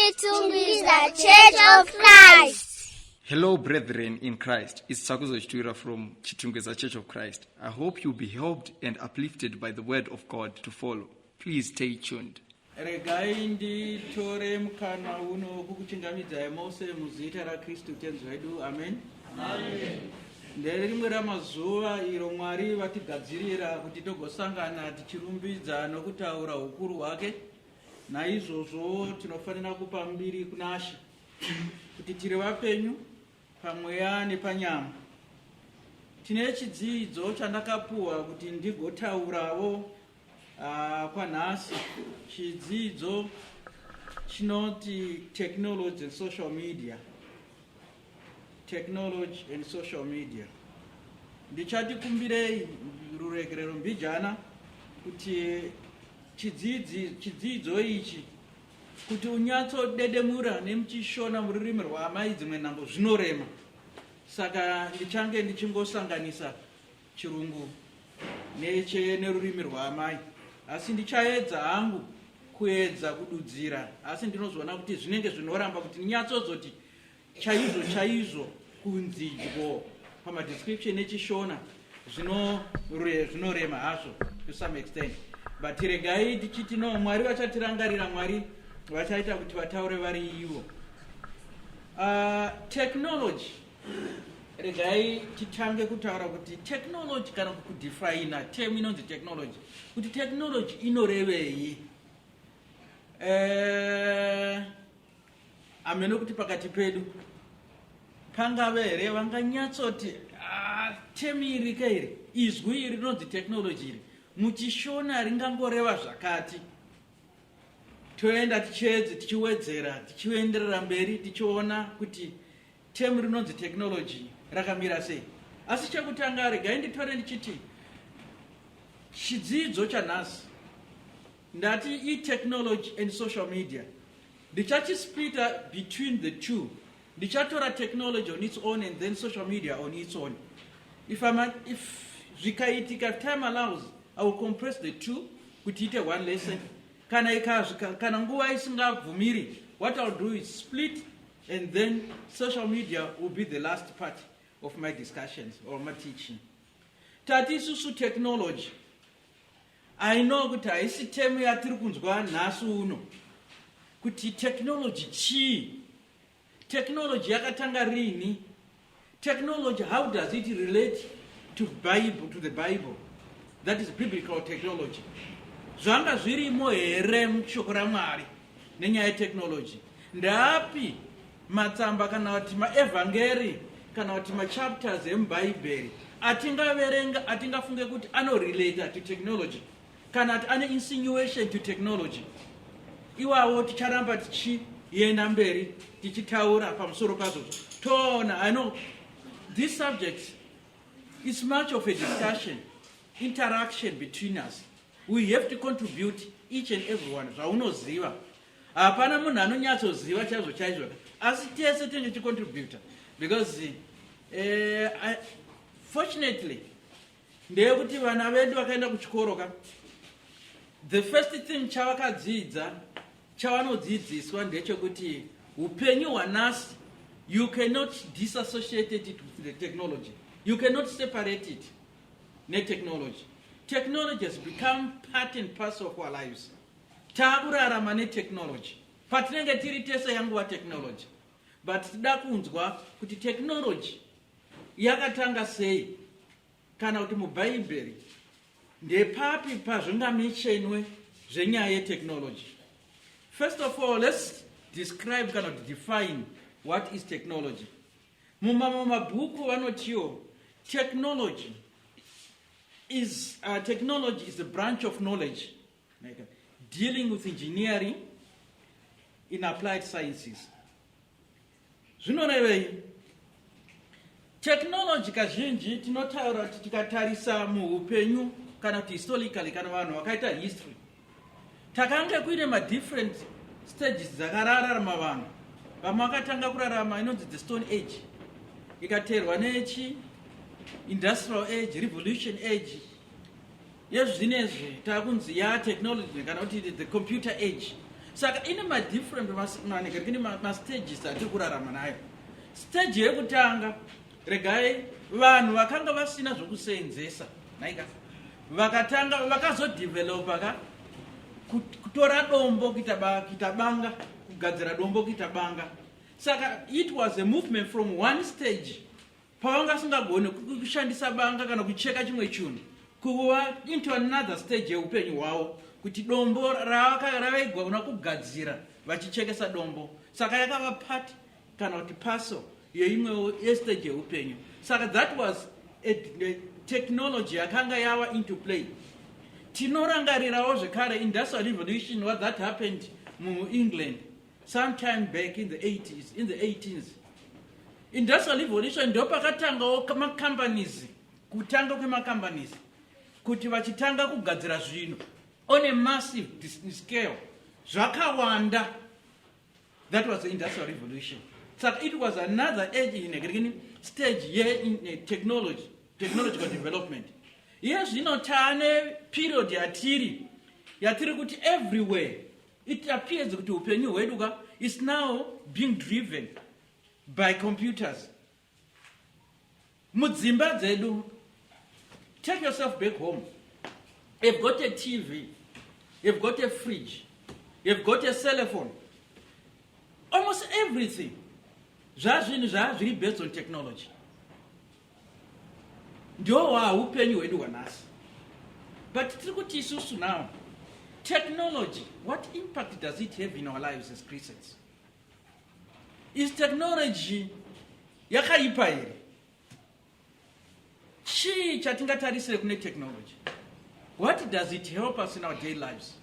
chitungwiza church of christ Hello, brethren in Christ. It's Sakuzo Chitwira from Chitungeza Church of Christ. I hope you'll be helped and uplifted by the word of God to follow. Please stay tuned. regai nditore mukana uno kukuchingamidzai mose muzita rakristu tenzi wedu amen nderimwe ramazuva iro mwari vatigadzirira kuti togosangana tichirumbidza nokutaura ukuru hwake Naizvozvo tinofanira kupa mbiri kuna She kuti tiri vapenyu pamweya nepanyama. Tine chidzidzo chandakapuwa kuti ndigotaurawo uh, kwanhasi chidzidzo chinoti technology and social media technology and social media ndichati kumbirei ruregerero mbijana kuti chidzidzo ichi kuti unyatsodedemura nemuchishona mururimi rwaamai dzimwe nhambo zvinorema saka ndichange ndichingosanganisa chirungu neche nerurimi rwaamai asi ndichaedza hangu kuedza kududzira asi ndinozoona kuti zvinenge zvinoramba kuti ndinyatsozoti chaizvo chaizvo kunzidyo pamadescription echishona zvinorema hazvo to some extent but regai tichiti no mwari vachatirangarira mwari vachaita kuti vataure vari ivo uh, technology regai titange kutaura kuti technology kana kudefina tem inonzi technology kuti technology inorevei uh, amene kuti pakati pedu pangave here vanganyatsoti ah, temi iri ka iri izwi iri rinonzi technology iri muchishona ringangoreva zvakati toenda tichiedze tichiwedzera tichienderera mberi tichiona kuti temu rinonzi technology rakamira sei asi chekutanga regai nditore ndichiti chidzidzo chanhasi ndati itechnology and social media Ndichachisplita between the two. Ndichatora technology on its own and then social media on its own. If, I'm an, if zvikaitika time allows i will compress the two kuti ite one lesson kana ikazvika kana nguva isingabvumiri what ill do is split and then social media will be the last part of my discussions or my teaching tati isusu technology I know kuti haisi temu yatiri kunzwa nhasi uno kuti technology chii technology yakatanga rini technology how does it relate to bible to the bible that is biblical technology zvanga zvirimo here mushoko ramwari nenyaya yetechnology ndaapi Matsamba kana kuti maevhangeri kana kuti machapters emubhaibheri atingaverenga atingafunge kuti anorelata to technology kana kuti ane insinuation to technology iwawo ticharamba tichienda mberi tichitaura pamusoro pazvo toona i know this subject is much of a discussion interaction between us we have to contribute each and everyone zvaunoziva hapana munhu anonyatsoziva chaizvo chaizvo asi tese tinenge tichicontributa because eh, I, fortunately ndeyekuti vana vedu vakaenda kuchikoro ka the first thing chavakadzidza chavanodzidziswa ndechekuti upenyu hwanasi you cannot disassociate it with the technology you cannot separate it netechnology technology has become part and parcel of our lives Takurarama netechnology patinenge tiri tese yanguva technology but tida kunzwa kuti technology yakatanga sei kana kuti mubhaibheri ndepapi pazvingamichenwe zvenyaya yetechnology first of all let's describe kana kuti define what is technology mumamwe mabhuku vanotiwo technology is uh, technology is a branch of knowledge dealing with engineering in applied sciences zvinorevei technology kazhinji tinotaura kuti tikatarisa muupenyu kana kuti historically kana vanhu vakaita history takange kuine madifferent stages dzakararama vanhu vamwe vakatanga kurarama inonzi the stone age ikateerwa nechi industrial age revolution age yezvinezvi takunzi ya technology kana kuti the computer age saka ine madifferent manenge kune mastages atiri kurarama nayo stage yekutanga regai vanhu vakanga vasina zvekuseenzesa naika vakatanga vakazodevelopa ka kutora dombo kuita banga kugadzira dombo kuita banga saka it was a movement from one stage pawanga asingagone kushandisa banga kana kucheka chimwe chinhu kuva into another stage yeupenyu hwavo kuti dombo ravaigona kugadzira vachichekesa dombo saka yakava part kana kuti paso yeimwewo yestage yeupenyu saka that was a, a technology yakanga yava into play tinorangarirawo zvekare industrial revolution what that happened muengland sometime back in the 80s in the 18s industrial revolution ndo pakatangawo macompanies kutanga kwemacompanies kuti vachitanga kugadzira zvinhu on a massive scale zvakawanda that was the industrial revolution saka it was another age in a stage ye in a technology technological development iye zvino taane period yatiri yatiri kuti everywhere It appears kuti upenyu hwedu ka is now being driven by computers. Mudzimba dzedu, take yourself back home. You've got a TV, you've got a fridge, you've got a cell phone. Almost everything. Zvazvinhu zvazviri based on technology. ndowa upenyu hwedu hwanhasi but tiri kuti isusu now technology what impact does it have in our lives as christians is technology yakaipa here chii chatingatarisire kune technology what does it help us in our day lives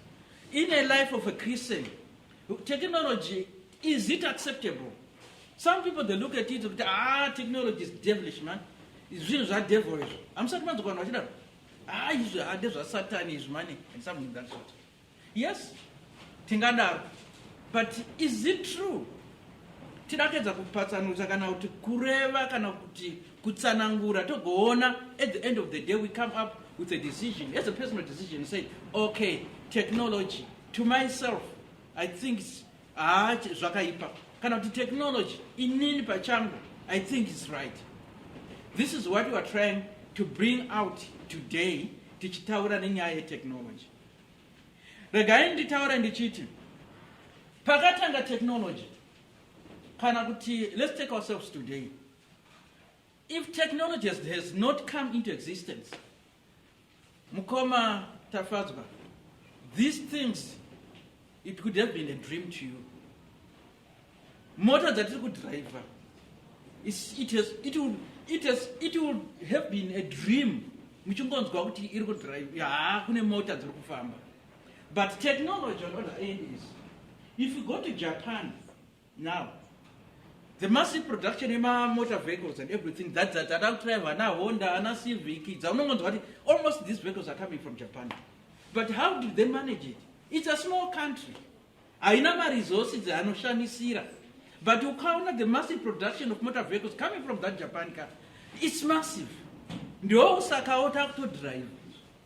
in a life of a christian technology Is it acceptable? Some people they look at it kuti ah technology is devilish man. Zvinhu zva devil izvo. Amusati manzwa vanhu vachidaro. Ah izvi ah ndezva Satan izvi mani and something that sort. Yes. Tingadaro. But is it true? Tidakedza kupatsanutsa kana kuti kureva kana kuti kutsanangura togoona at the end of the day we come up with a decision as a personal decision say okay technology to myself I think it's haa zvakaipa kana kuti technology inini pachangu i think is right this is what youare trying to bring out today tichitaura nenyaya yetechnology regai nditaure ndichiti pakatanga technology kana kuti let's take ourselves today if technology has, has not come into existence Mukoma Tafadzwa, these things, it could have been a dream to you. Mota dzatiri kudriver, it has, it will, it has, it will have been a dream muchingonzwa kuti iri kudrive haa kune mota dziri kufamba but technology on other end is if you go to japan now the massive production yemamotor vehicles and everything that that that out drive ana honda ana civic dzaunongonzwa kuti almost these vehicles are coming from japan but how did they manage it it's a small country haina maresources anoshanisira but ukaona the massive production of motor vehicles coming from that japan car it's massive ndoo saka ota kutodrive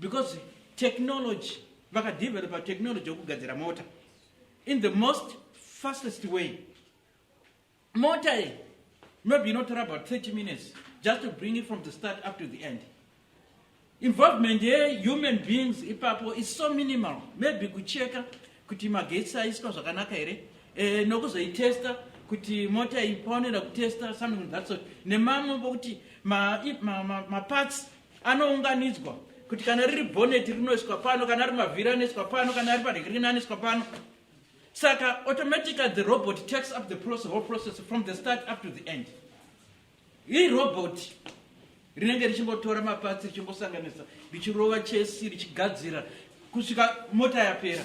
because technology vakadevelopa technology yokugadzira mota in the most fastest way mota ye maybe inotora about 30 minutes just to bring it from the start up to the end involvement yehuman beings ipapo is so minimal maybe kucheka kuti magetsi aiswa zvakanaka here e, nokuzoitesta kuti mota iyi paonera kutesta something that sort nemamwe pokuti maparts ma, ma, ma anounganidzwa kuti kana riri bhoneti rinoiswa pano kana ari mavhiri anoiswa pano kana ari paregrina anoiswa pano saka automatically the robot takes up the process, whole process from the start up to the end iri robot rinenge richingotora mapatsi richingosanganisa richirova chesi richigadzira kusvika mota yapera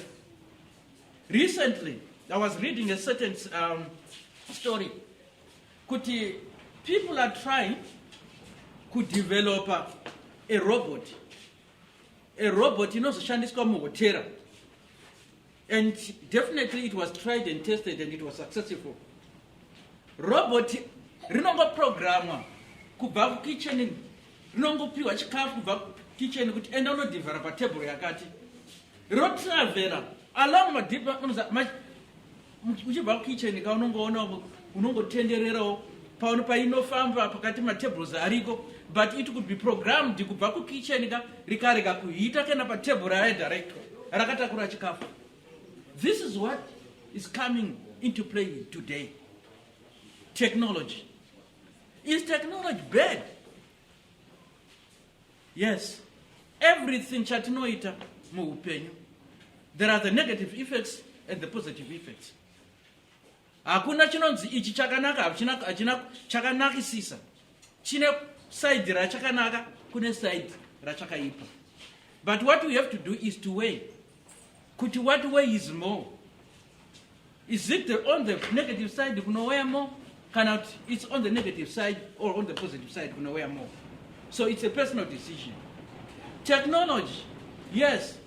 recently i was reading a certain um, story kuti people are trying kudevelopa a robot a robot inozoshandiswa muhotera and definitely it was tried and tested and it was successful robot rinongoprogramwa kubva kukitchen rinongopiwa chikafu kubva kitchen kuti enda unodhivhara patebhuru yakati rotravhera along madipa uchibva kukitchen ka unongoona unongotendererawo paono painofamba pakati matables ariko but it could be programmed kubva kukitchen ka rikarega kuhita kana patable raye director rakatakura chikafu this is what is coming into play today technology is technology bad Yes, everything chatinoita muupenyu there are the negative effects and the positive effects. Hakuna chinonzi ichi chakanaka hachina hachina chakanakisisa. Chine side rachakanaka kune side rachakaipa. But what we have to do is to weigh kuti what way is more is it the, on the negative side kunowaya more kana kuti it's on the negative side or on the positive side kunowaya more so it's a personal decision technology yes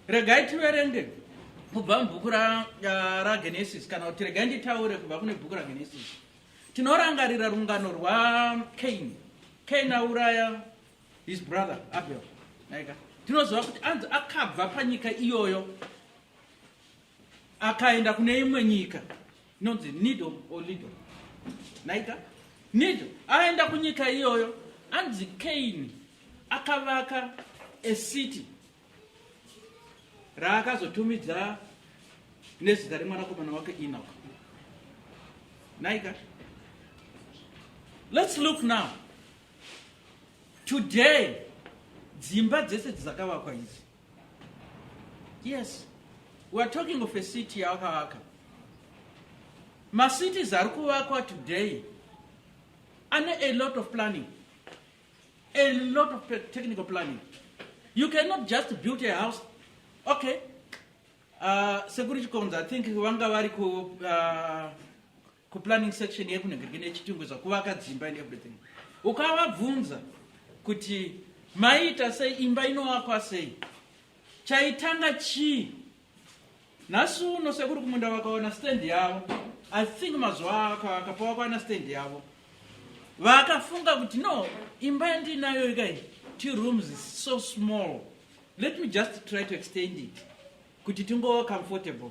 regai tiverenge kubva mubhuku ragenesis ra kana kuti regai nditaure kubva kune bhuku ragenesis tinorangarira rungano rwacain cain auraya his brother abel naika tinoziva kuti anzi akabva panyika iyoyo akaenda kune imwe nyika inonzi nido or lido naika nido aenda kunyika iyoyo anzi kaini akavaka ecity raakazotumidza nezita remwanakomana wake enoch naika let's look now today dzimba dzese dzakavakwa idzi yes we are talking of a city yakavaka macities ari kuvakwa today ane a lot of planning a lot of technical planning you cannot just build a house okay uh, sekuri chikonza i think vanga vari ku uh, kuplanning section yekunhengirike nechitungwe zvakuvaka dzimba and everything ukavabvunza kuti maiita sei imba inovakwa sei chaitanga chii nhasi uno sekuri kumunda vakaona stand yavo i think mazuva akavaka pavakaona stand yavo vakafunga kuti no imba yandinayo ikai two rooms is so small let me just try to extend it kuti tingova comfortable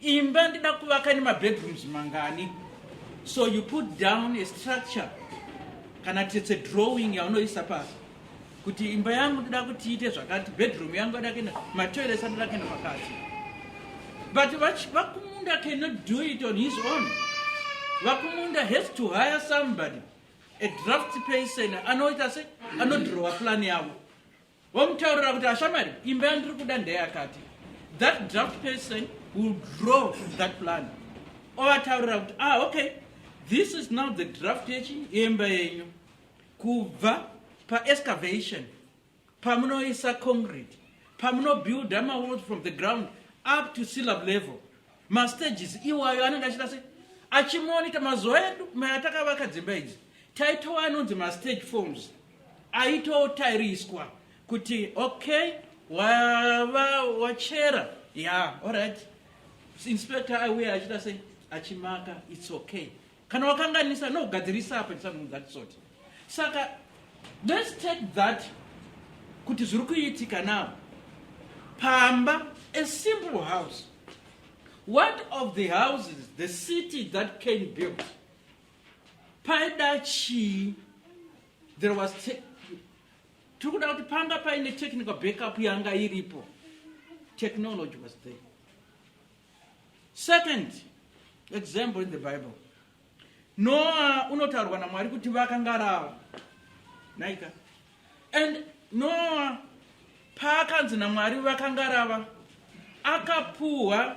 Imba ndida kuvaka nema bedrooms mangani. So you put down a structure kana it's a drawing yaunoisa pasi kuti imba yangu ndida kuti iite zvakati bedroom yangu ada kuenda matoilets anoda kuenda pakati but vakumunda cannot do it on his own vakumunda has to hire somebody a draft person anoita se anodrowa plan yavo womutaurira kuti ashamari imba yandiri kuda ndeyakati that draft person will draw that plan ovataurira kuti ah okay this is now the draft yechi yemba yenyu kubva paexcavation pamunoisa concrete pamunobuilda mawalls from the ground up to syllab level mastages iwayo anenge achita se achimonita mazuva edu mayatakavaka dzimba idzi taitowa anonzi mastage forms aitotariswa kuti okay wava wachera ya yeah, allright inspector aiuya achita sei achimaka its okay kana wakanganisa no gadzirisa apa it's something that sort saka let's take that kuti zviri kuitika now pamba a simple house what of the houses the city that came built paida chii there was tiri kuda kuti panga paine technical backup yanga iripo technology was there Second example in the Bible. Noah unotaurwa naMwari kuti vakangarawa. Naika. And Noah paakanzi naMwari vakangarava akapuhwa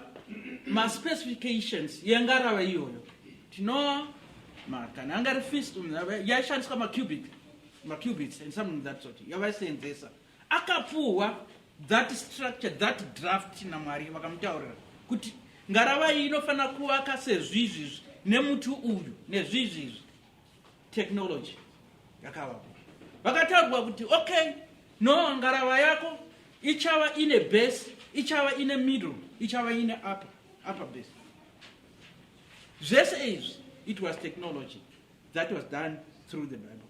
maspecifications yengarava iyoyo tinoa makana angari fist yaishandiswa macubic macubits and something that sort yavaisenzesa akapuhwa that structure that draft namwari vakamutaurira kuti ngarava iyi inofanira kuvaka sezvizvizvi nemuti uyu nezvizvizvi technology yakavako vakataurwa kuti okay no ngarava yako ichava ine base ichava ine middle ichava ine upper, upper base zvese izvi it was technology that was done through the bible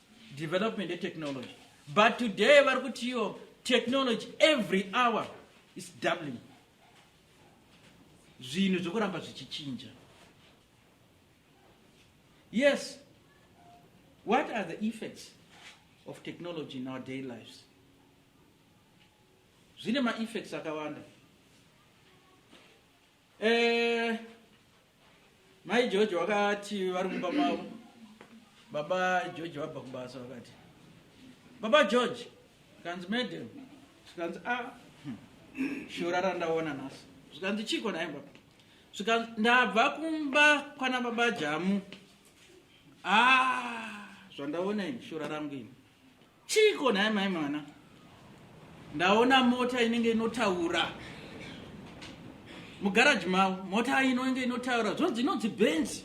development yetechnology but today vari kuti iyo technology every hour is doubling zvinhu zvekuramba zvichichinja yes what are the effects of technology in our day lives zvine maeffects akawanda Eh, mai George wakati vari mumba mavo. Baba George vabva kubasa wakati. Baba George, kanzi madam, zvikanzi a ah, hmm, shura randaona nhasi. Zvikanzi chiko naye baba. Zvikanzi ndabva kumba kwana baba Jamu. Ah, zvandaona ini shura rangu ini. Chiiko nhai mai mwana? Ndaona mota inenge inotaura. Mugaraji mavo mota inenge inotaura zvonzi inonzi Benz.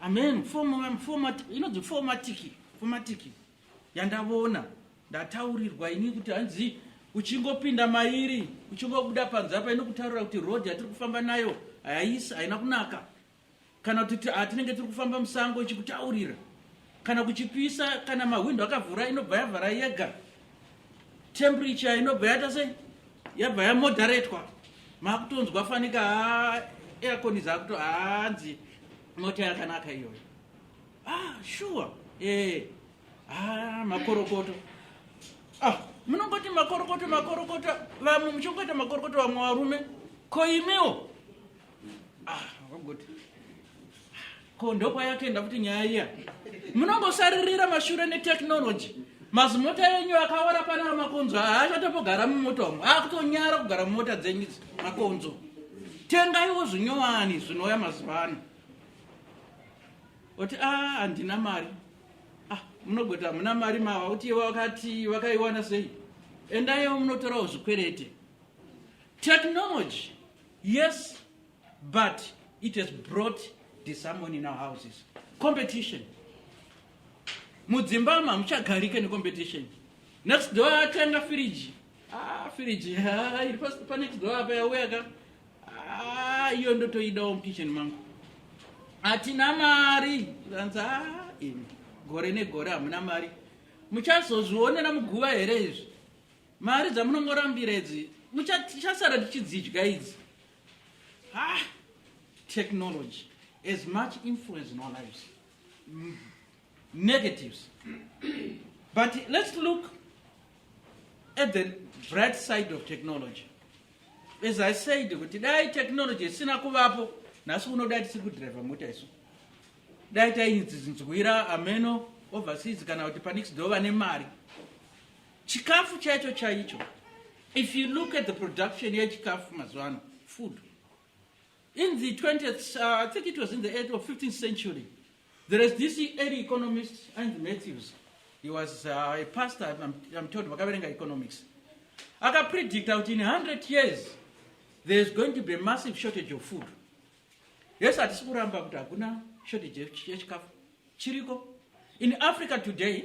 Amen. Format format inonzi formatiki. Formatiki. Yandavona ndataurirwa ini kuti hanzi uchingopinda mairi uchingobuda panze apa inokutaurira kuti road yatiri kufamba nayo haisi haina kunaka kana kuti ah, tinenge tiri kufamba musango ichikutaurira kana kuchipisa kana mahwindo akavhura inobva yavhara yega temperature inobva yata sei yabva yamoderatwa makutonzwa fanika ah, aircon zakuto hanzi ah, mota yakanaka iyoyo ah, sure eh, ah, makorokoto ah, munongoti makorokoto makorokoto vamwe muchingoita makorokoto vamwe varume koimiwo ah wagoti ko ndokwayatoenda kuti nyaya iya munongosaririra mashure netechnology mazimota enyu akawara pana makonzo haachatopogara mumota umu akutonyara kugara mumota dzenyu idzi makonzo tengaiwo zvinyowani zvinouya mazuva ano oti a ah, handina mari ah, munogoti hamuna mari mava kuti wakati wakaiwana sei endaiwo munotorawo zvikwerete technology Yes, but it has brought disharmony in our houses. Competition. Mudzimba ma muchagarike ne competition. Next door atenga fridge. Ah, fridge. Ah, iri pasi pa next door apa yauya ka. Ah, iyo ndotoidawo mukitchen mangu. Atina mari. Ndanza ah, imi. Gore negore hamuna mari. Muchazozvionera muguva here izvi? Mari dzamunongorambira idzi tichasara tichidzidya idzi. Ha! Technology as much influence in our lives. Mm. Negatives. But let's look at the bright side of technology. As I said, kuti dai technology isina kuvapo, nhasi uno dai tisi kudriver mota isu. Dai tainzinzwira ameno overseas kana kuti panext door vane mari. chikafu chaicho chaicho if you look at the production yechikafu mazuva ano food in the 20th uh, i think it was in the 8th or 15th century there is this early economist and matthews he was uh, a pastor i'm, I'm told vakaverenga economics akapredict out in 100 years there is going to be a massive shortage of food yes hatisi kuramba kuti hakuna shortage yechikafu chiriko in africa today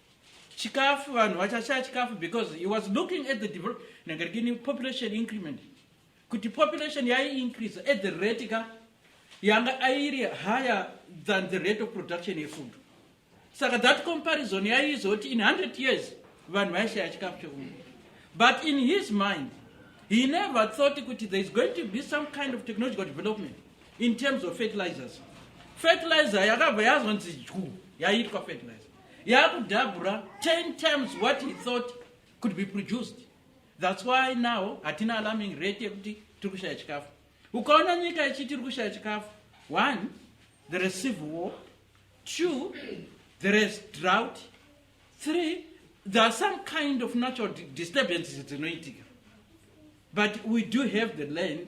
chikafu vanhu vachashaya chikafu because he was looking at the develop nangarikini population increment kuti population yaiincrease at the rate ka yanga airi higher than the rate of production yefood saka that comparison yaizoti in 100 years vanhu vaishaya chikafu chekuno but in his mind he never thought kuti there is going to be some kind of technological development in terms of fertilizers fertilizer yakabva yazonzi dyu yaiitwa fertilizer yakudhabhura 10 times what he thought could be produced thats why now hatina alarming rate yekuti tiri kushaya chikafu ukaona nyika ichi tiri kushaya chikafu one there is civil war two there is drought three there are some kind of natural disturbances dzinoitika but we do have the land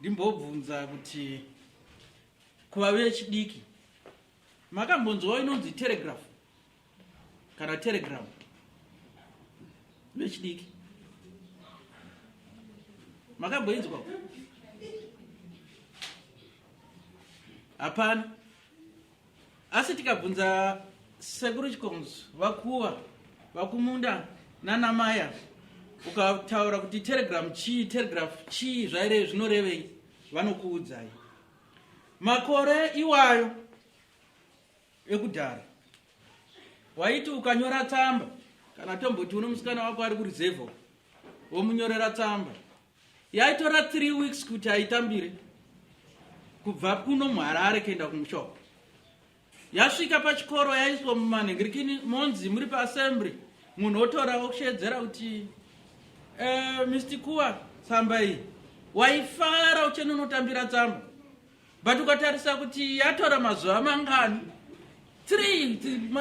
ndimbobvunza kuti kuva vechidiki makambonzwawo inonzi telegraph kana telegram vechidiki makamboinzwa hapana asi tikabvunza sekuru chikonzo vakuwa vakumunda nanamaya ukataura kuti telegram chii telegraph chii zvaire zvinorevei vanokuudzai makore iwayo ekudhara waiti ukanyora tsamba kana tomboti uno musikana wako ari kurizevho womunyorera tsamba yaitora three weeks kuti aitambire kubva kuno muharare kuenda kumushoko yasvika pachikoro yaiswa mumanhingirikini monzi muri paassembly munhu otora wokushedzera kuti eh, mr kuwa tsamba iyi waifara uchenonotambira tsamba but ukatarisa kuti yatora mazuva mangani three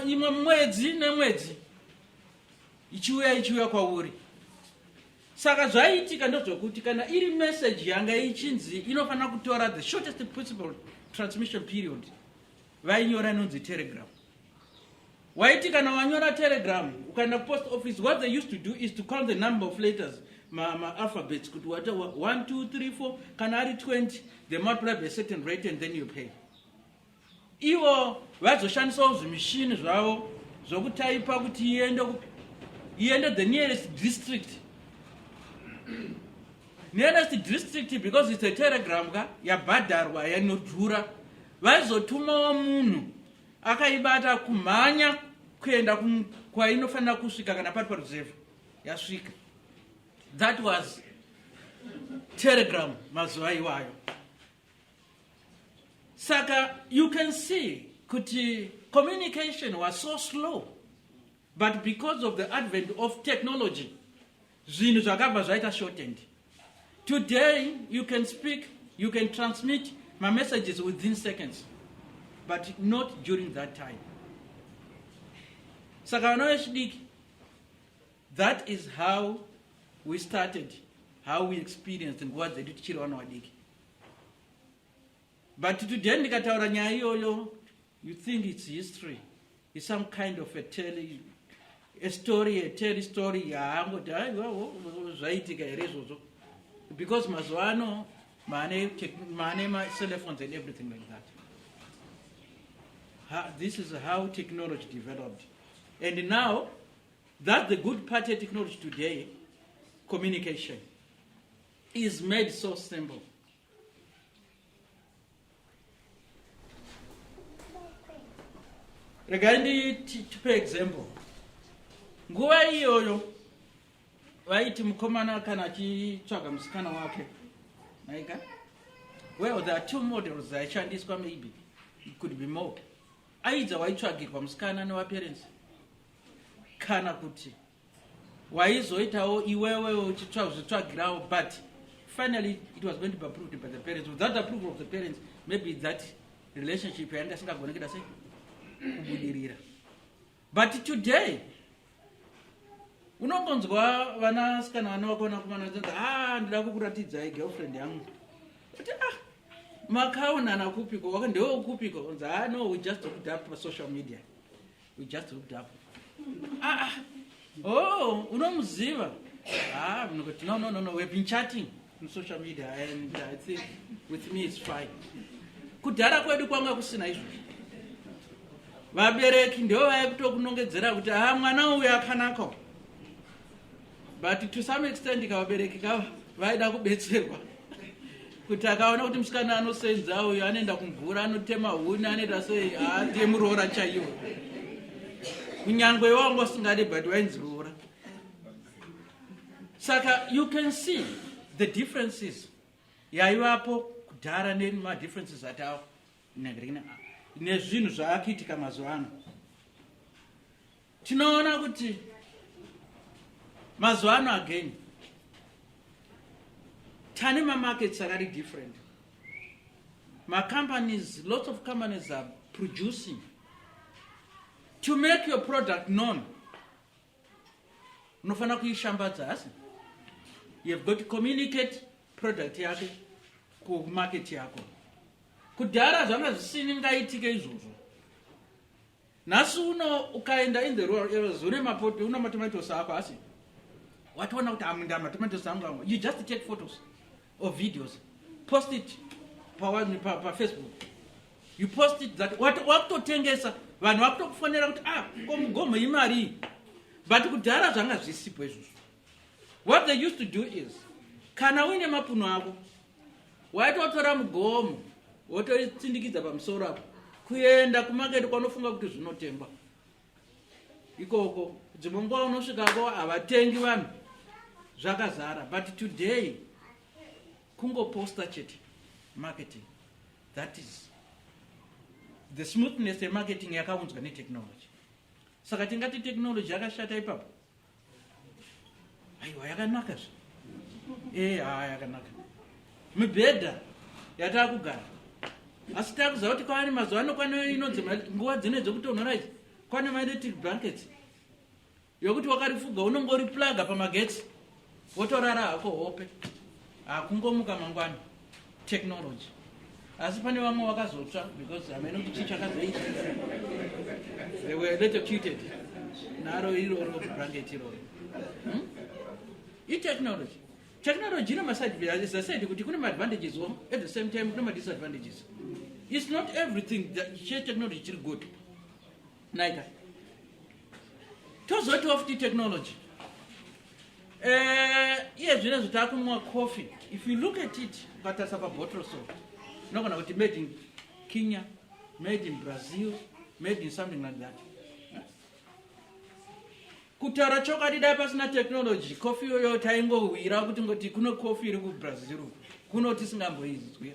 imwe mwedzi nemwedzi ichiuya ichiuya kwauri Saka zvaiitika ndozvokuti kana iri message yanga ichinzi inofanira kutora the shortest possible transmission period vainyora inonzi telegram waiti kana wanyora telegram ukaenda kupost office what they used to do is to count the number of letters maalphabets ma kuti wata 1 2 3 4 kana ari 20 they multiply by certain rate and then you pay Ivo vaizoshandisawo zvimishini zvavo zvokutaipa kuti iende kupi iende the nearest district nearest district because it's a telegram ka yabhadharwa yanodhura vaizotumawo munhu akaibata kumhanya kuenda kwainofanira kusvika kana pari paruzevha yasvika that was telegram mazuva iwayo saka you can see kuti communication was so slow but because of the advent of technology zvinhu zvakabva zvaita shortened today you can speak you can transmit my messages within seconds but not during that time saka vana vechidiki that is how we started how we experienced nguva dzedu tichiri vana vadiki but today ndikataura nyaya iyoyo you think it's history is some kind of a tale a story a tale story yaangoti aiwawo zvaitika here izvozvo because mazuva ano maane maane macellphones and everything like that ha, this is how technology developed and now that the good part of technology today communication is made so simple. regai nditipe example nguva iyoyo vaiti mukomana kana achitsvaga musikana wake maika well there are two models dzaishandiswa maybe it could be more aidza waitsvagirwa musikana nevaparents kana kuti waizoitawo iwewe uchitsvagirawo but finally it was going to be approved by the parents without the approval of the parents maybe that relationship yanga isingagone kuita sei kubudirira but today unongonzwa vana sikana vana vako vana kumana vachinzi a ah, ndida kukuratidzai girlfriend yangu kuti ah makaonana kupiko ndewe kupiko onzi a ah, no we just hooked up pasocial media We just hooked up. Ah, ah. Oh, unomuziva? Ah, mnokoti, no, no, no, no, we've been chatting on social media and I think with me it's fine. Kudhara kwedu kwanga kusina izvozvo. Vabereki ndivo vaikutokunongedzera kuti ah mwana uyu akanaka. but to some extent kavabereki kava vaida kubetserwa kuti akaona kuti musikana anosenza uyo anoenda kumvura anotema huni anoita sei haadie muroora chaiwo kunyange iwo wanga usingadi but wainzi roora saka you can see the differences yaivapo kudhara nemadifferences atao nezvinhu zvaakuitika mazuva ano Tinoona kuti mazuva ano again tane mamarkets akari different macompanies lots of companies are producing to make your product known unofanira kuishambadza hasi you have got to communicate product yake kumarket yako kudhara zvanga zvisini ngaitike izvozvo Nhasi uno ukaenda in the rural areas une mapoti una matomatoes ako asi watoona kuti amunda matomatoes angu angu you just take photos or videos post it pawani pa, pa facebook you post it that what wakutotengesa vanhu vakutokufonera kuti ah ko mugomo imari but kudhara zvanga zvisipo izvozvo what they used to do is kana uine mapuno ako waitotora mugomo wotoitsindikidza pamusoro apo kuenda kumaketi kwanofunga kuti zvinotengwa ikoko dzimwe nguva unosvikako havatengi vanhu zvakazara but today kungoposta chete marketing that is the smoothness yemarketing yakaunzwa netechnology saka tingati technology yakashata ipapo aiwa yakanaka zve ee eh, haa yakanaka mibhedha yataa kugara asi takuziva kuti kwaani mazuva ano kwane inonzi nguva dzine dzekutonhora idzi kwane maelectric blankets yokuti wakarifuga unongoriplaga pamagetsi wotorara hako hope hakungomuka mangwana technology asi pane vamwe vakazotsva because hameno kuti chii chakazoita they were electrocuted naro iroro branket iroro hmm? itechnology technology ine masadvantages kuti kune maadvantages o at the same time kune madisadvantages it's not everything chitechnology chiri good Naika. Tozoti of the technology. Eh, iye zvine zvitakumwa coffee. If you look at it, ukatarisa pa bottle so. Unogona kuti made in Kenya, made in Brazil, made in something like that. Eh? Kutaura chokwadi dai pasina technology, coffee yoyo taingowira kuti ngoti kuno coffee iri ku Brazil. Kuno tisingamboizwi.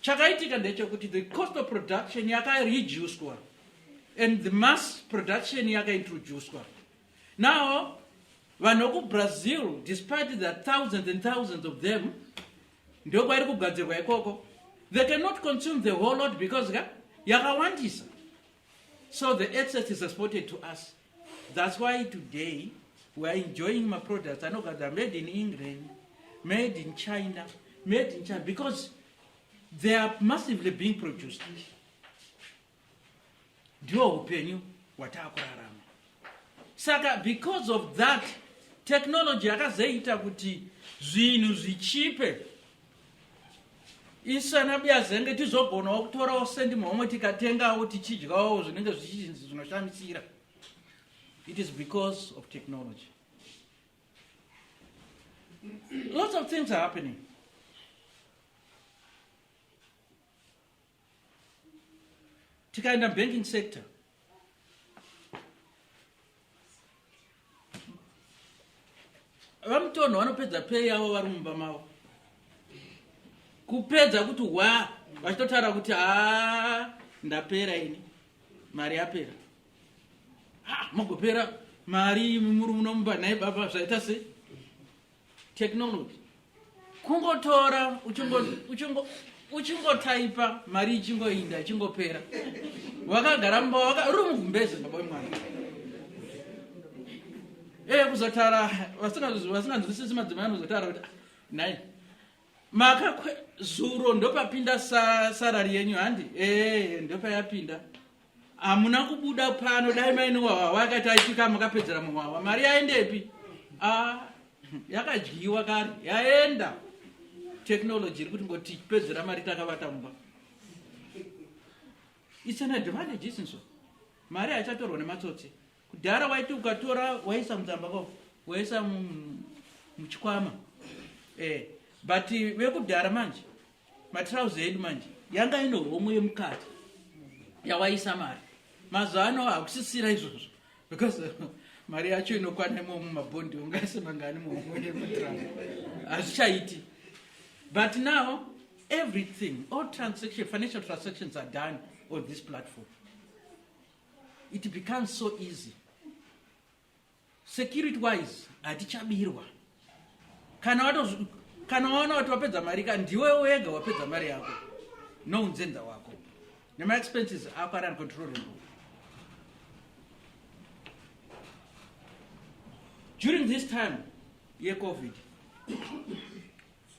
Chakaitika ndechekuti the cost of production yakareducwa and the mass production yakaintroducwa. Now vanhu vekubrazil despite the thousands and thousands of them ndokwairi kugadzirwa ikoko they cannot consume the whole lot because yakawandisa so the excess is exported to us That's why today we are enjoying my products anogadzira made in England, made in China, made in China because they are massively being produced. Ndiwo upenyu wataakurarama. Saka because of that technology yakazoita kuti zvinhu zvichipe isu anabuya zenge tizogonawo kutorawo sendi mhomwe tikatengawo tichidyawo zvinenge zvichinzi zvinoshamisira it is because of technology lots of things are happening tikaenda banking sector vamutonho vanopedza pei yavo vari mumba mavo kupedza kuti hwa vachitotaura kuti haa ndapera ini mari yapera ha mogopera mari muri munomumba nhai baba zvaita sei technology kungotora uchingotaipa mari ichingoinda ichingopera wakagara mumba waka uri mugumbeze baba wemwana ee eh, kuzotara vasinganzwisisi madzimai anozotara kuti ah, nai makakwe zuro ndopapinda sa, sarari yenyu handi ee ndopayapinda hamuna kubuda pano dai maine wawa wakati aipika makapedzera muwawa mari yaendepi ah, yakadyiwa kare yaenda technology iri kuti ngoti pedzera mari takavata mumba its an advantage isinso mari haichatorwa nematsotsi Kudhara waiti ukatora waisa mudzamba ko waisa muchikwama eh, but vekudhara manje matrouse edu manje yanga ino homwe yemukati yawaisa mari mazuva ano hakusisira izvozvo because mari yacho inokwana imomo mabhondi ungaise mangani muhomwe yemutrouser hazvichaiti but now everything all transaction financial transactions are done on this platform it becomes so easy security wise hatichabirwa kana wato kana waona kuti wapedza mari ka ndiwe wega wapedza mari yako nounzenza wako nemaexpenses ako ari uncontrollable during this time yecovid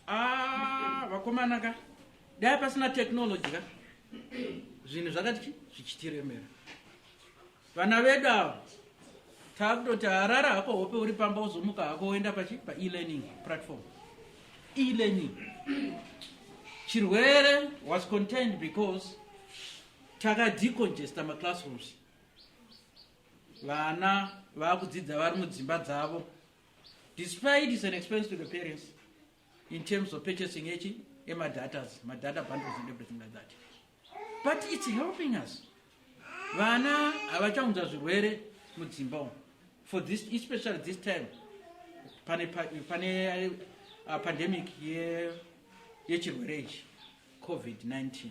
Ah, vakomana ka dai pasina technology ka zvinhu zvakati chi zvichitiremera vana vedu ava taakutoti harara hako hope uri pamba uzomuka hako woenda pachi paelearning platform elearning chirwere was contained because takadecongesta maclassrooms vana vaakudzidza vari mudzimba dzavo Despite it's an expense to the parents in terms of purchasing echi ema datas, ma data bundles and everything like that. But it's helping us. Vana havachaunza zvirwere mudzimba umu. For this, especially this time, pane, pane uh, pandemic yechirwere ichi, COVID-19.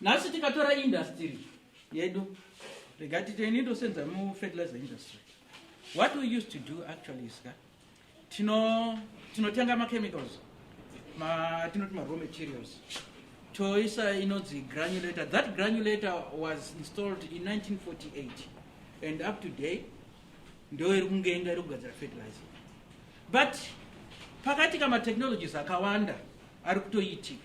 nhasi tikatora industry yedu rega titeni tosenza mufertilizer industry what we used to do actually is ka tinotenga machemicals tinoti maraw materials toisa inonzi granulator that granulator was installed in 1948 and up to day ndo iri kungenga iri kugadzira fertilizer but pakati kamatechnologies akawanda ari kutoitika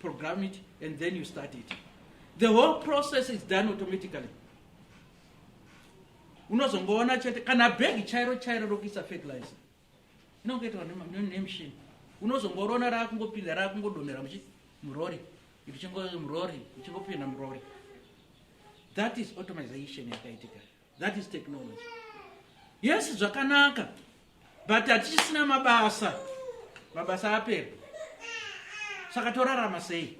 program it and then you start it the whole process is done automatically unozongoona chete kana bhegi chairo chairo rokuisa fertilizer inongoitwa nemshini unozongorona raakungopinda raakungodonhera muchi murori ikuchingo murori ichingopinda murori that is automization yakaitika that is technology yes zvakanaka but hatichisina mabasa mabasa apera saka torarama sei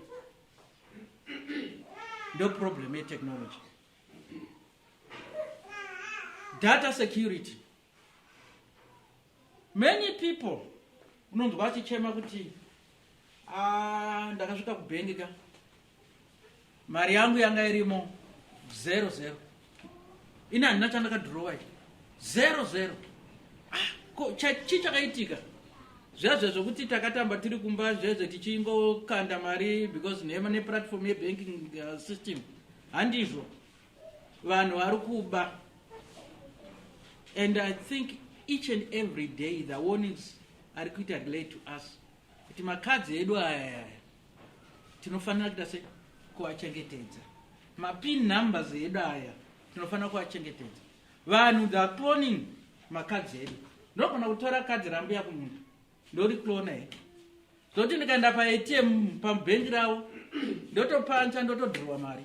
ndo problem yetechnology data security many people unonzwa achichema kuti ah, ndakasvika kubhengi ka mari yangu yanga irimo zero zero ini handina chandakadhurowa i zero zero ah, ko chii chakaitika zviya zve zvokuti takatamba tiri kumba zvezve tichingokanda mari because neplatform yebanking uh, system handizvo vanhu vari kuba and i think each and every day the warnings ari kuita relay to us kuti makadzi edu ayaya tinofanira kuita se kuachengetedza mapin numbers edu aya tinofanira kuachengetedza vanhu the cloning makadzi edu ndogona kutora kadzi rambuya kunyika ndori clona he zoti ndikaenda paatm pabhengi ravo ndotopancha ndotodhirwa mari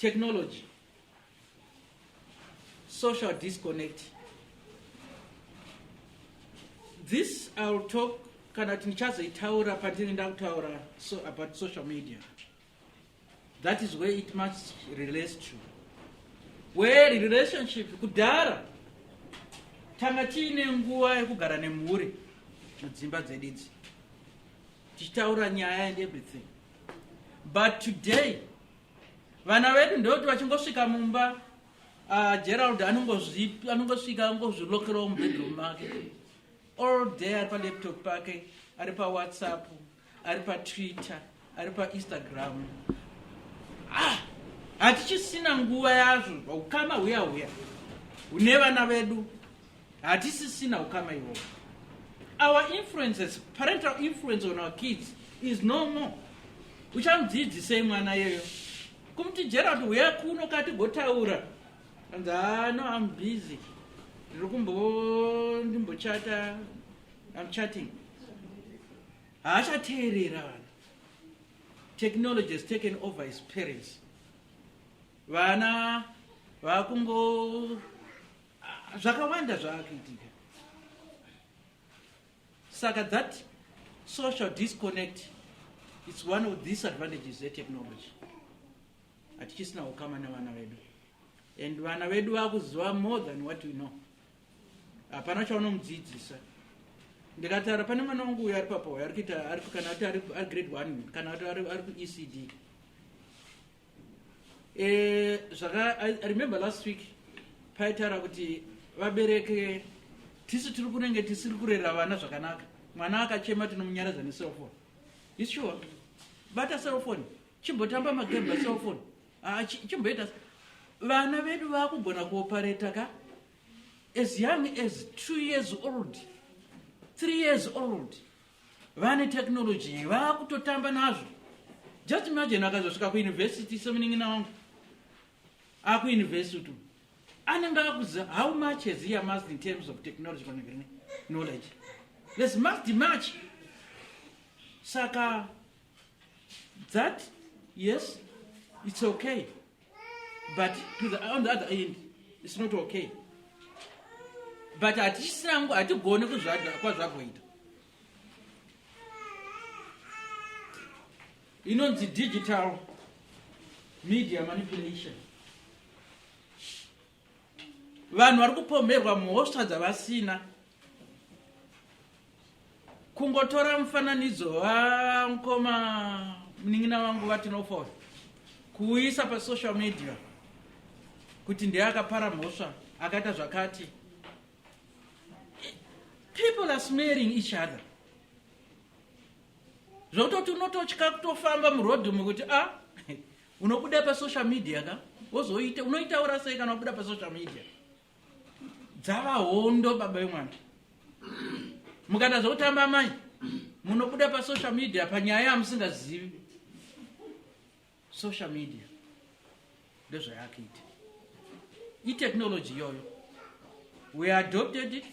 technology social disconnect this ill talk kana kuti ndichazoitaura pandini ndakutaura so about social media that is where it must relate to where relationship kudhara tanga tiine nguva yekugara nemhuri mudzimba dzedidzi tichitaura nyaya and everything but today vana vedu ndeuti vachingosvika mumba uh, gerald anongosvika angozvilokerawo mubedroom make all day ari palaptop pake ari pawhatsapp ari patwitter ari painstagram ah, hatichisina nguva yazvo ukama huya huya hune vana vedu hatisisina ukama iwowo our influences parental influence on our kids is no more uchamudzidzisei mwana yeyo kumuti gerald huya kuno katigotaura anzi hano ah, am busy ndiri kumbo ndimbochata am chatting haachateerera vana technology has taken over his parents vana vakungo Ah, zvakawanda zvaakuitika saka that social disconnect its one of disadvantages etechnology hatichisina ukama nevana vedu and vana vedu vakuziva more than what we know hapana chaunomudzidzisa ndikataura pane mwana wangu uyo ari papo uyo ari kuita kana kuti ari grade one kana kuti ari kuecd Eh, zvaka I, I remember last week paitaura kuti vabereke tisu tiri kunenge tisiri kurera vana zvakanaka mwana akachema tinomunyaradza necellphone is sure bata cellphone chimbotamba magame bacellphone ah, chimboita vana vedu vakugona kuopareta ka as young as two years old three years old vane technology vakutotamba nazvo just imagine akazosvika kuuniversity semunin'ina wangu akuuniversity anenge akuziva how much has he amassed in terms of technology panegrini knowledge there's must much saka that yes it's okay but to the, on the other end it's not okay but hatichisangu hatigone kwazvagoita inonzi digital media manipulation vanhu vari kupomherwa mhosva dzavasina kungotora mufananidzo vamukoma munin'ina vangu vatinofona kuuyisa pasocial media kuti ndiye akapara mhosva akaita zvakati people are smearing each other zvokutoti unototya kutofamba murodhi umu kuti a ah, Unobuda pa social media ka? Wozoita unoitaura sei kana wabuda pa social media? Dzava hondo baba vemwana. Mukada zvokutamba mai munobuda pa social media panyaya yamusingazivi. Social media ndozvayakaita. I technology yoyo. We adopted it.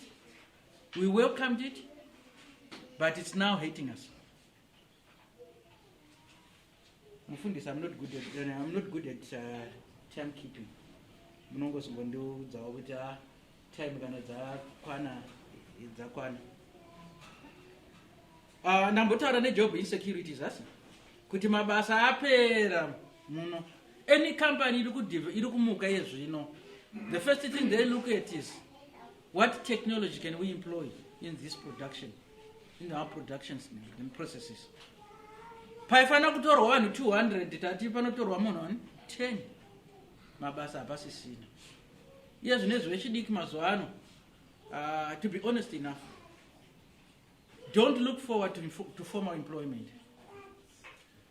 We welcomed it. But it's now hating us. mufundisi am not good at, uh, I'm not good at uh, time keeping munongozongondiudzawo kuti a ah, time kana dzakwana dzakwana uh, ndambotaura nejob insecurities asi kuti mabasa apera muno any company iri kumuka yezvino the first thing they look at is What technology can we employ in this production, in our productions and processes? Paifanira kutorwa vanhu 200 tati panotorwa munhu wani 10 mabasa hapasisina iye zvine zvechidiki mazuva ano uh, to be honest enough don't look forward to, to formal employment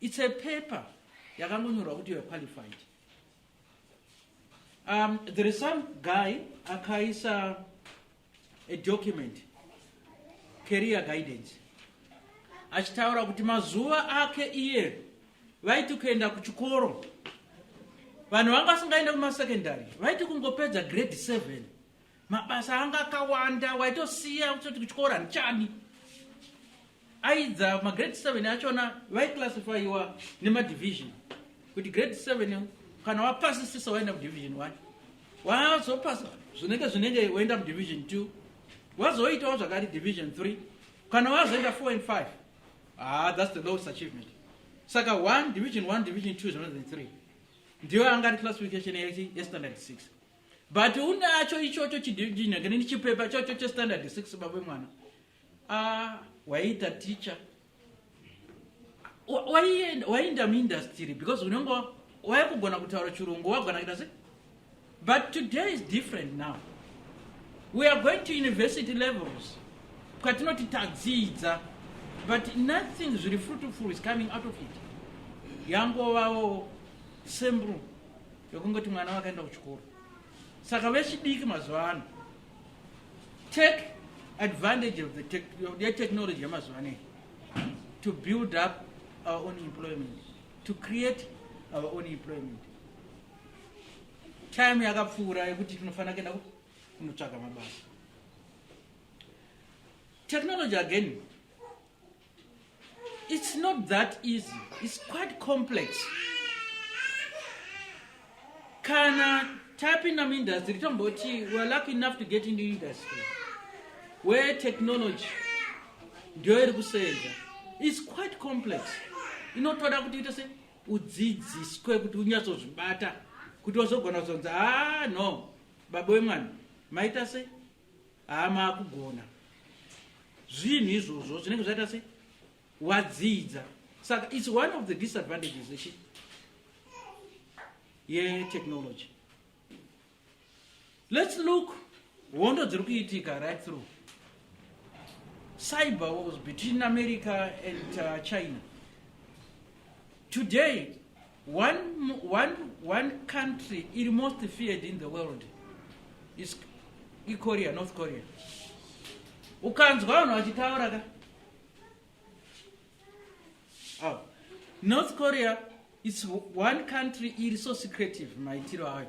It's a paper yakangonyorwa kuti you're qualified. Um, there is some guy akaisa a document career guidance achitaura kuti mazuva ake iye vaiti kuenda kuchikoro vanhu vanga vasingaende kumasecondary vaiti kungopedza grade 7 mabasa anga akawanda waitosiya kutoti kuchikora ndichani aidza magrade 7 achona vaiclassifyiwa nemadivision kuti grade 7 kana wapasisisa waenda mudivision one wazopasa zvinenge zvinenge woenda mudivision two wazoitawo zvakati division three kana wazoenda four and five ah, thats the lowest achievement saka one division one division two zvinonzi three ndiyo anga ari classification yestandard six but unacho ichocho chidinagani chipepa chocho chestandard 6 babe mwana ah, waiita ticha waienda muindastry because unenge waikugona kutaura chirungu wagona kuita se but today is different now we are going to university levels kwatinoti tadzidza but nothing zviri fruitful is coming out of it yangovawo sembru yokungoti mwana wakaenda kuchikoro saka vechidiki mazuva ano take advantage of the tech, of the technology yamazuva ano to build up our own employment to create our own employment time yakapfuura yekuti tinofanira kuenda kunotsvaga mabasa technology again It's not that easy. It's quite complex. Kana tapinda muindustry tomboti we're lucky enough to get into industry where technology ndiyo iri kusenza is quite complex inotoda kuti ite se udzidziswe kuti unyatsozvibata kuti wazogona kuzonzi ha ah, no baba wemwana maita sei haa maakugona zvinhu izvozvo zvinenge zvaita se wadzidza saka its one of the disadvantages echi yetechnology let's look hondo dziri kuitika right through cyber wars between america and uh, china today One, one, one country iri most feared in the world is Korea, North Korea. Ukanzwa vanhu vachitaura ka? Oh. North Korea is one country iri so secretive maitiro ayo.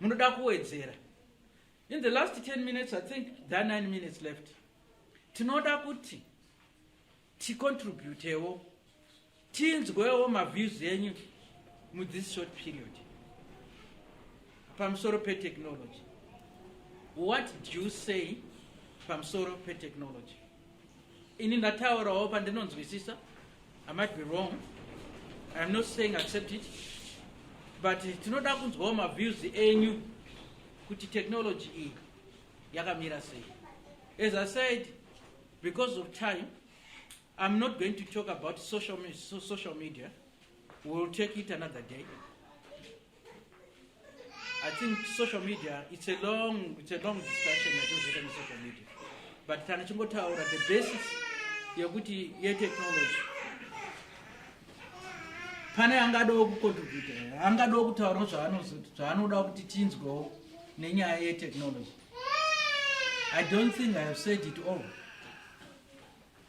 munoda kuwedzera in the last 10 minutes i think the 9 minutes left tinoda kuti ticontributewo tinzwewo maviews enyu muthis short period pamusoro petechnology what do you say pamusoro petechnology ini ndataurawo pandinonzwisisa i might be wrong iam not saying accept it but tinoda kunzwawo maviews enyu kuti technology iyi yakamira sei as i said because of time iam not going to talk about social, social media wewill take it another day I think social media it's a long it's a long discussion yatozvita ne social media but kana chingotaura the basis yekuti ye technology pane angadawo kucontribute angadawo kutaura zvaanoda kuti tinzwewo nenyaya ye technology i don't think i have said it all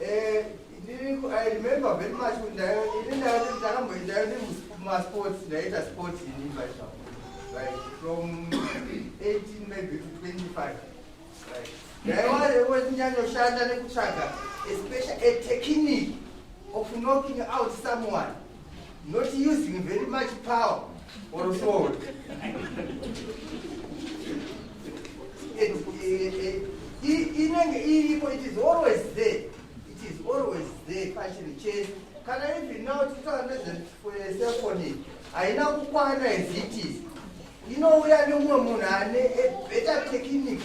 Eh, I remember very much kuti ndayo ini ndayo ndakamboitayo ndi masports ndaita sports ini paizva like from 18 maybe to 25 like ndaiwarewo ndinyanyoshanda nekutsvaga especially a technique of knocking out someone not using very much power or sword inenge iripo it is always there it is always there pachiri chese kana even now titaura nezvesephony haina kukwana as it is inouya nemumwe munhu ane a better technique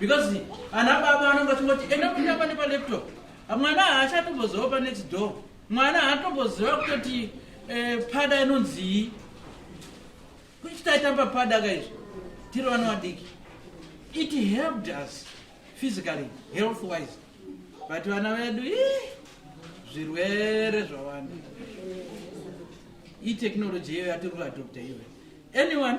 Because ana baba vanenge vachingoti enda kutamba nepalaptop. Mwana haachatomboziva panext door. Mwana haatomboziva kutoti eh, pada inonzii. Kuchitaitamba pada kaizvo tiri vana vadiki. It helped us physically, health wise. But vana vedu ii zvirwere zvawanda itechnology yeyo yatiri kuadopta iwe anyone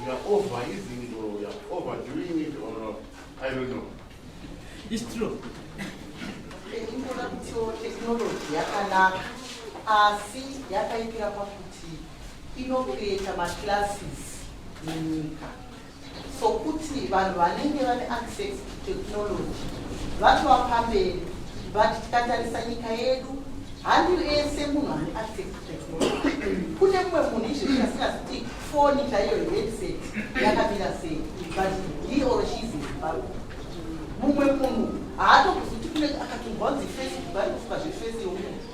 We are over using it or we are over doing it or not. I don't know. It's true. Ingoda kutiwo technology yakanaka asi yakaipira pakuti inocreata maclasses munyika sokuti vanhu vanenge vane access technology vatova pamberi but tikatarisa nyika yedu handi ese munhu ane access technology kune mumwe munhu izvezvi asingazi kuti foni chaiyo headset yakamira sei but he or she is zimbabwe mumwe munhu haatokuzi kuti kune akatongonzi face kubaikufuka zvefesi yomunhu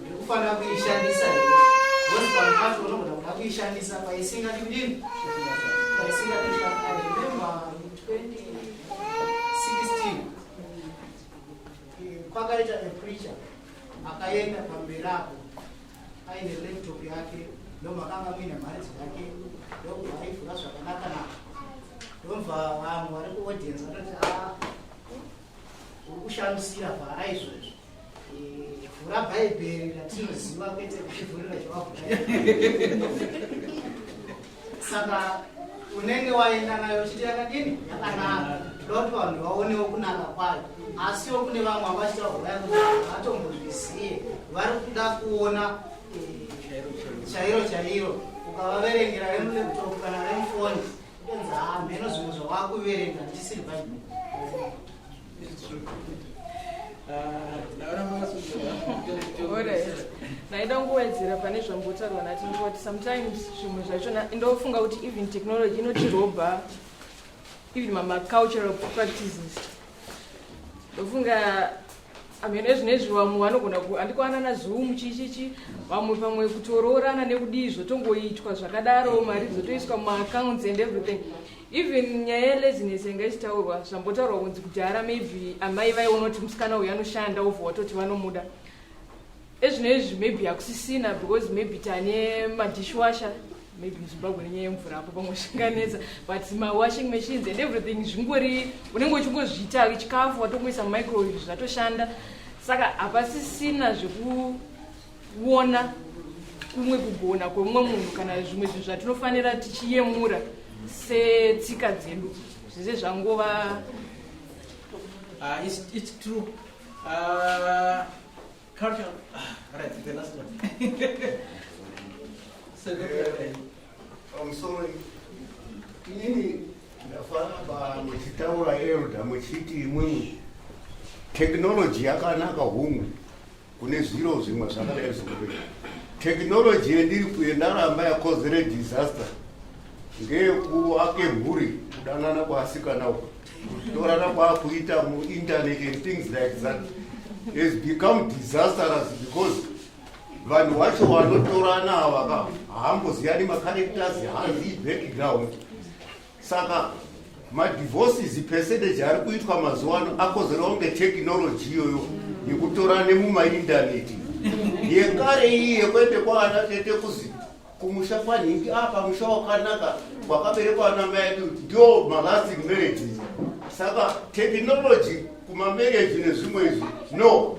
Ndikufanira kuishandisa here? Ngozi pamupato unogona kuda kuishandisa paisinga kudini? Paisinga kuita I remember in 2016 kwakaita a preacher akaenda pamberi apo aine laptop yake ndomakanga muine mharidzo yake ndobva aivhura zvakanaka naka ndobva vamwe vari kuaudience vanoti a uri kushandisira vhara izvozvo vhura bhaibheri ratinoziva kwete kuivhurira zvavabhura saka unenge waenda nayo uchiti yakadini yakanaka ndoda kuti vanhu vaonewo kunaka kwayo asiwo kune vamwe havachita vhuraya kuti vatombozviziye vari kuda kuona eh, chairo chairo ukavaverengera remuleptop kana remufoni kutonzi hamheno zvimwe zvavakuverenga ndisiri bhaibheri ndaida kungowedzera pane zvambotaurwa nati ndikuti sometimes zvimwe zvacho ndofunga kuti even technology inotirobha even mamacultural practices ndofunga amene zvinezvi vamwe vanogona andikwanana zoom chichichi vamwe pamwe kutoroorana nekudii zvotongoitwa zvakadaro mari dzotoiswa mumaaccounts and everything even nyaya yelaziness yanga ichitaurwa zvambotaurwa kunzi kudhara maybe amai vai unoti musikana uyu anoshanda ova watoti vanomuda ezvino izvi maybe hakusisina because maybe tane madishwasher maybe muzimbabwe nenyaya yemvura apo pamwe zvinganetsa but mawashing machines and everything zvingori unenge uchingozviita chikafu watongoisa mumicrowave zvatoshanda saka hapasisina zveku kuona kumwe kugona kwemumwe munhu kana zvimwe zvinhu zvatinofanira tichiyemura setsika dzedu zvize zvangova ah, ah, culture. Ah, right, the last one. so, uh, I'm sorry. Nini ndafamba muchitaura elda muchiti imwimwi technology yakanaka hungu kune zviro zvimwe zvakadai zvekuti tekinoloji yendiri kuye ndaramba yakozere disaster ngeyekuake mhuri kudanana kwaasikana uku torana kwaakuita muinternet and things like that has become disastrous because vanhu wacho wanotorana avaka haamboziyani macaracters hanzi background saka madivorces percentage ari kuitwa mazuva ano akozerawo kunge technology iyoyo yekutorane mumaindaneti yekare iyi yekuende kwaana tete kuzi kumusha kwanhingi apa ah, musha wakanaka wakaberekwa ana mai ake ndio malasting marriages saka technology kumamarriage nezvimwe izvi no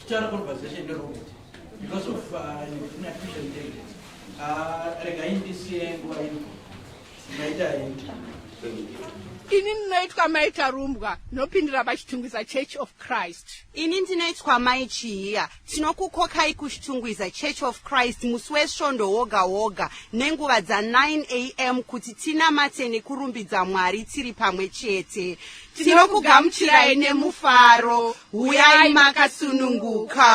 Tichara conversation neRobert because of uh, inattrition date. Uh, rega indisiye nguva ino. Maita hindi. Ini ndinoitwa mai Tarumbwa ndinopindira paChitungwiza Church of Christ. Ini ndinoitwa mai Chihiya tinokukokai kuChitungwiza Church of Christ musi wesvondo woga woga nenguva dza 9 am kuti tinamate nekurumbidza Mwari tiri pamwe chete. Tinokugamuchirai nemufaro, huyai makasununguka.